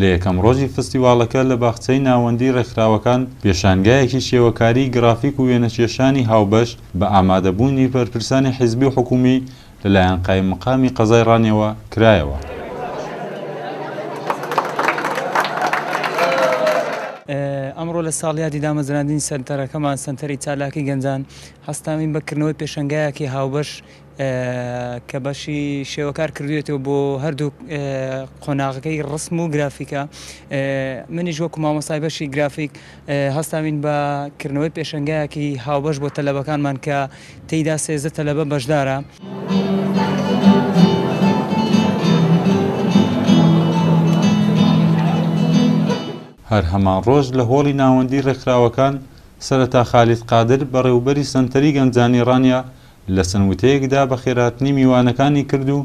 لە یەکەم ڕۆژی فستیواڵەکە لە باخچەی ناوەندیی ڕێکخراوەکان، پێشانگایەکی شێوەکاریی گرافیک و وێنەکێشانی هاوبەش بە ئامادەبوونی بەرپرسانی حیزبی و حکوومی لەلایەن قایممەقامی قەزای ڕانیەوە کرایەوە. ئەمڕۆ لە ساڵیادی دامەزراندنی سەنتەرەکەمان، سەنتەری چالاکی گەنجان، هەستاوین بە کردنەوەی پێشەنگایەکی هاوبەش، کە بەشی شێوە کار کردوێتەوە بۆ هەردوو قۆناغەکەی ڕسم و گرافیکە منیش وەکو مامۆستای بەشی گرافیک هەستاوین بە کردنەوەی پێشنگایەکی هاوبەش بۆ تەلەبەکانمان کە تێیدا سێزە تەلەبە بەشدارە. هەر هەمان ڕۆژ لە هۆڵی ناوەندی ڕێکخراوەکان سەرەتا خالید قادر بەڕێوبەری سەنتەری گەنجانی ڕانیە لە چەند وتەیەکدا بەخێرهاتنی میوانەکانی کرد و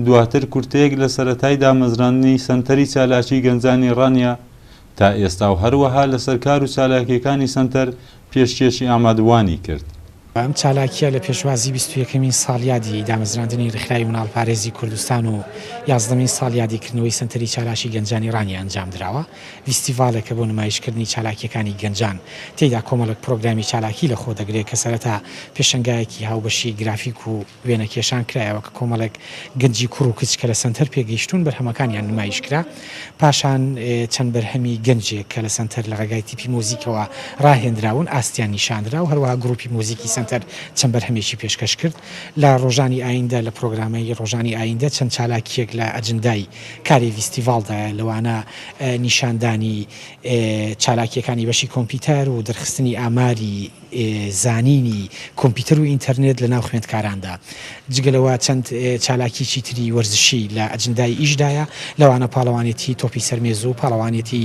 دواتر کورتەیەک لە سەرەتای دامەزراندنی سەنتەری چالاکیی گەنجانی ڕانیە تا ئێستا و هەروەها لەسەر کار و چالاکییەکانی سەنتەر پێشکێشی ئامادەبووانی کرد. ئەم چالاکییە لە پێشوازی بیست و یەکەمین ساڵیادی دامەزراندنی ڕێکخراوی مناڵپارێزی کوردستان و یازدەمین ساڵیادی کردنەوەی سەنتەری چالاکی گەنجانی ڕانیە ئەنجامدراوە. ڤیستیڤالێکە بۆ نمایشکردنی چالاکییەکانی گەنجان، تێیدا کۆمەڵێک پرۆگرامی چالاکی لە خۆ دەگرێ کە سەرەتا پێشەنگایەکی هاوبەشی گرافیک و وێنەکێشان کرایەوە کە کۆمەڵێک گەنجی کوڕ و کچ کە لە سەنتەر پێگەیشتوون بەرهەمەکانیان نمایش کرا، پاشان چەند بەرهەمی گەنجێک کە لە سەنتەر لە ڕێگای تیپی مۆزیکەوە ڕاهێنراون ئاستیان نیشاندرا و هەروەها گرووپی مۆزیکی سەنتەر چەند بەرهەمێکی پێشکەش کرد لە ڕۆژانی ئایندە لە پرۆگرامەی ڕۆژانی ئایندە چەند چالاکییەک لە ئەجندای کاری ڤیستیڤاڵدایە لەوانە نیشاندانی چالاکییەکانی بەشی کۆمپیوتەر و دەرخستنی ئاماری زانینی کۆمپیوتەر و ئینتەرنێت لەناو خوێندکاراندا جگە لەوە چەند چالاکییەکی تری وەرزشی لە ئەجندای ئیشدایە لەوانە پاڵەوانێتی تۆپی سەر مێزو پاڵەوانێتی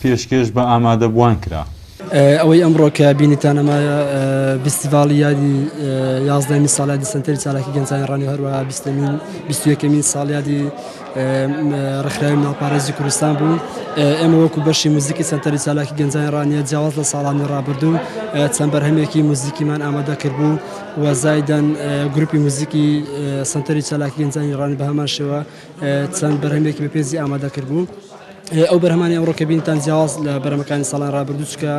پێشکێش بە ئامادەبووان کرا. ئەوەی ئەمڕۆ کە بینیتان ئەمەیە ڤیستیڤاڵی یادی یازدەمین ساڵیادی سەنتەری چالاکی گەنجانی ڕەنی هەروەها بیستەمین بیست و یەکەمین ساڵیادی ڕێکخراوی مناڵپارێزی کوردستان بوو ئێمە وەکو بەشی موزیکی سەنتەری چالاکی گەنجانی ڕانیە جیاواز لە ساڵانی ڕابردوو چەند بەرهەمێکی موزیکیمان ئامادە کردبوو و زایدەن گروپی موزیکی سەنتەری چالاکی گەنجانی ڕانی بە هەمان شێوە چەند بەرهەمێکی بە پێزی ئامادە کردبوو ئەو بەرهمانی ئەوڕۆ کە بینتان جیاواز لە بەرەمەکانی ساڵان ڕابردووچکە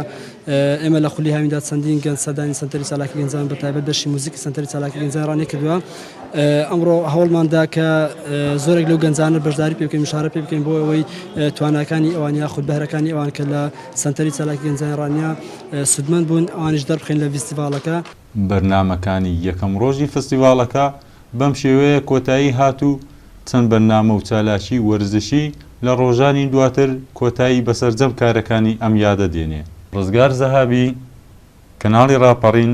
ئێمە لە خولی هاویندا چەندین گەن سەدانی سنتەری سالاکی گەنجان بە تایبەت دەشی موزیک سنتەری سالاکی گەنجان ڕانێ کردووە ئەمڕۆ هەوڵماندا کە زۆرێک لەو گەنجانە بەشداری پێ بکەین شارە پێ بکەین بۆ ئەوەی تواناکانی ئەوان یا خود بەهرەکانی ئەوان کە لە سنتەری سالاکی گەنجان ڕانیا سودمەند بوون ئەوانش دەربخین لە فیستیڤالەکە بەرنامەکانی یەکەم ڕۆژی فستیڤاڵەکە بەم شێوەیە کۆتایی هات و چەند بەرنامە و چالاکی وەرزشی لە ڕۆژانی دواتر کۆتایی بە سەرجەم کارەکانی ئەم یادە دێنێ. ڕزگار زەهابی، کەناڵی ڕاپەڕین.